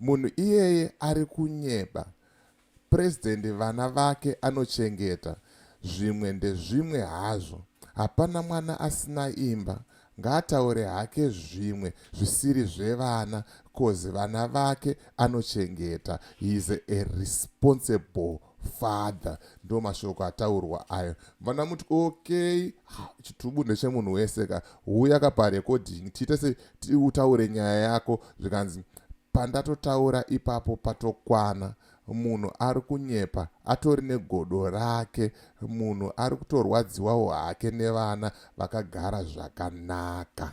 Munhu iyeye ari kunyeba. President vana vake anochengeta zvimwe ndezvimwe hazvo. Hapana mwana asina imba ngaataure hake zvimwe zvisiri zvevana coz vana vake anochengeta he is a responsible father ndo mashoko ataurwa ayo vana muti okay chitubu ndechemunhu wese ka huya ka parecording tiite se utaure nyaya yako zvikanzi pandatotaura ipapo patokwana munhu ari kunyepa atori negodo rake munhu ari kutorwadziwawo hake nevana vakagara zvakanaka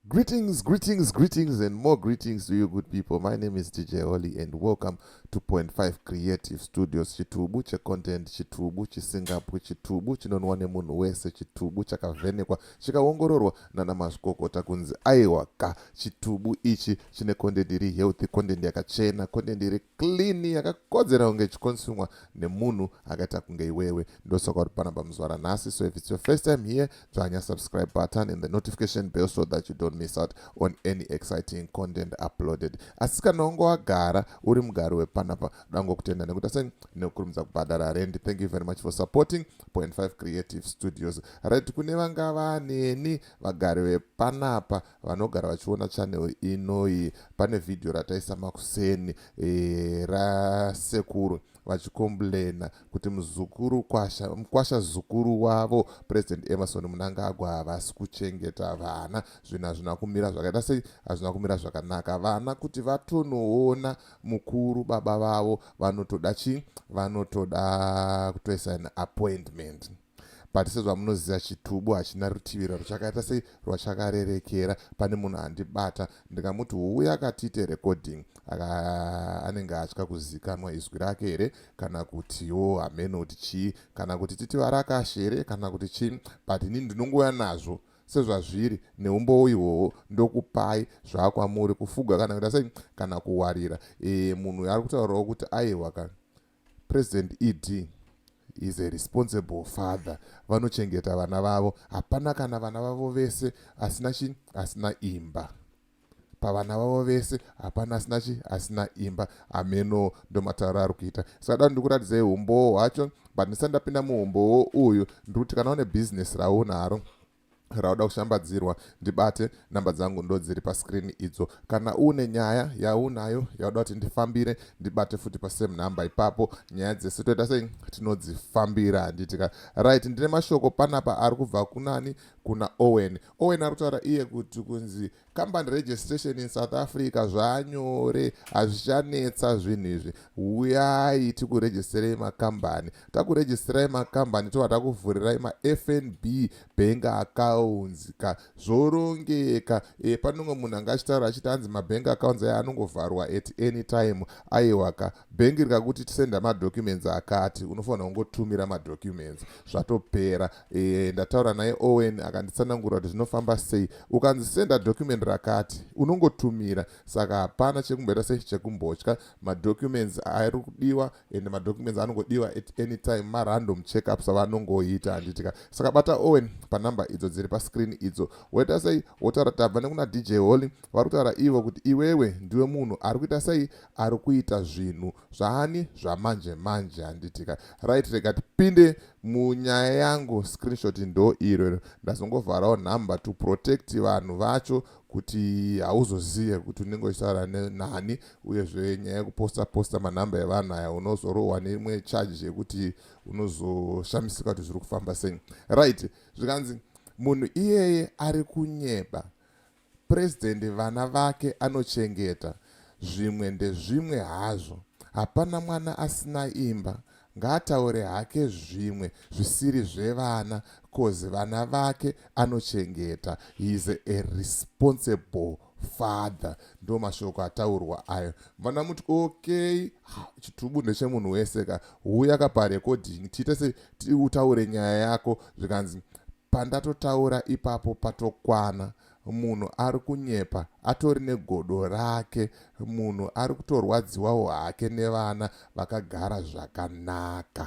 Greetings, greetings, greetings, and more greetings to you, good people. My name is DJ Holly, and welcome to Point Five Creative Studios. Chitubu che content, chitubu chisingapwi, chitubu chinonwa nemunhu wese, chitubu chakavhenekwa, chikaongororwa nana mazvikokota kunzi aiwa ka chitubu ichi chine content iri healthy, content yakachena, content iri clean yakakodzera kunge ichikonsumwa nemunhu akaita kunge iwewe ndosaka uri panapa muzvara nhasi so if its your first time here dzvanya subscribe button and the notification bell so that you don't miss out on any exciting content uploaded asi kana wange wagara uri mugari wepanapa dango kutenda nekuti aseni nekukurumidza kubhadhara rendi thank you very much for supporting point 5 creative studios right kune vanga vaneni vagari vepanapa vanogara vachiona channel inoyi pane vhidhiyo rataisa makuseni e, rasekuru vachikomblena kuti muzukuru kwasha mkwasha zukuru wavo president emerson munangagwa havasi kuchengeta vana zvinhu hazvina kumira zvakaita sei hazvina kumira zvakanaka vana kuti vatonoona mukuru baba vavo vanotoda chii vanotoda kutoisa an appointment but sezvamunoziva chitubu hachina rutivi rwachakaita sei rwachakarerekera pane munhu andibata ndikamuti huuya akatiite recording anenge atya kuzikanwa izwi rake here kana kutiwo hameno kuti chii kana kuti titi varakashe here kana kuti chii but ini ndinongouya nazvo sezvazviri neumbowo ihwohwo ndokupai zvakwamuri kufuga kana kuita sei kana kuwarira e, munhu ari kutaurawo kuti aihwa kana President ED is a responsible father vanochengeta vana vavo hapana kana vana vavo vese asina chi asina imba pavana vavo vese hapana asina chi asina imba ameno ndomataura ari kuita saka dano ndikuratidzai umbowo hwacho but ndisati ndapinda muumbowo uyu ndiri kuti kana une bhizinesi raunaro rauda kushambadzirwa ndibate namba dzangu ndodziri pascreen idzo kana une nyaya yaunayo yauda kuti ndifambire ndibate futi pasame number ipapo nyaya dzese toita sei tinodzifambira handitika right ndine mashoko panapa ari kubva kunani kuna owen owen ari kutaura iye kuti kunzi company registration in south africa zvanyore hazvichanetsa zvinhu izvi uyai tikuregisterai makambani takuregisterai makambani tova takuvhurirai mafnb bank accounts ka zvorongeka e, panonge munhu anga achitaura achiti hanzi mabank accounts aya anongovharwa at any time aiwa ka bhengi rikakuti tisenda madocuments akati unofanira kungotumira madocuments zvatopera e, ndataura naye owen akanditsanangura kuti zvinofamba sei ukanzi senda document rakati unongotumira saka hapana chekumboita sei chekumbotya madocuments ari kudiwa and madocuments anongodiwa at any time marandom checkups avanongoita handitika saka bata owen panumber idzo dziri pascreen idzo woita sei wotaura tabva nekuna dj holly vari kutaura ivo kuti iwewe ndiwe munhu ari kuita sei ari kuita zvinhu zvaani zvamanje manje handitika right rega tipinde munyaya yangu screenshot ndo iro iro ndazongovharawo number to protect vanhu vacho kuti hauzozive kuti unenge uchitaura nani uyezve nyaya yekuposta posta manhamba evanhu aya unozorohwa neimwe charge yekuti unozoshamisika kuti zviri kufamba sei right zvikanzi munhu iyeye ari kunyeba President vana vake anochengeta zvimwe ndezvimwe hazvo hapana mwana asina imba ngaataure hake zvimwe zvisiri zvevana coz vana vake anochengeta he is a responsible father ndo mashoko ataurwa ayo vana muti okay chitubu ndechemunhu wese ka huya ka parecording tiite se utaure nyaya yako zvikanzi Pandatotaura ipapo patokwana munhu ari kunyepa atori negodo rake munhu ari kutorwadziwawo hake nevana vakagara zvakanaka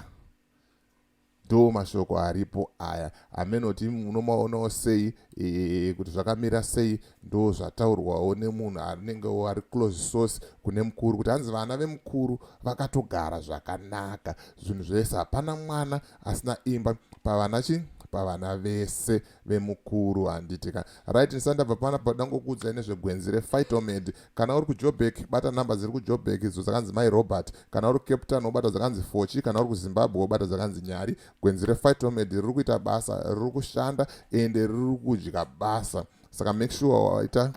ndo mashoko aripo aya amenoti munomaonawo sei e, kuti zvakamira sei ndo zvataurwawo nemunhu anenge ari close source kune mukuru kuti hanzi vana vemukuru vakatogara zvakanaka zvinhu zvese hapana mwana asina imba pavana chi pavana vese vemukuru handiti ka right ndisati ndabva pana pakuda ngokuudzai nezvegwenzi refightomed kana uri kujobek bata number dziri kujobek idzo dzakanzi mai robert kana uri cape town wobata dzakanzi fochi kana uri kuzimbabwe wobata dzakanzi nyari gwenzi refightomed riri kuita basa riri kushanda ende riri kudya basa saka make sure waita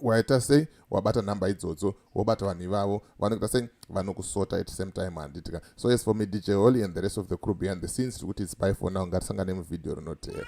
waita sei wabata nhamba idzodzo wobata vanhu ivavo vanoita sei vanokusota at same time handitika so as for me dj holy and the rest of the crew behind the scenes tiri kuti its by for now ngatisangane muvhidhiyo rinoteera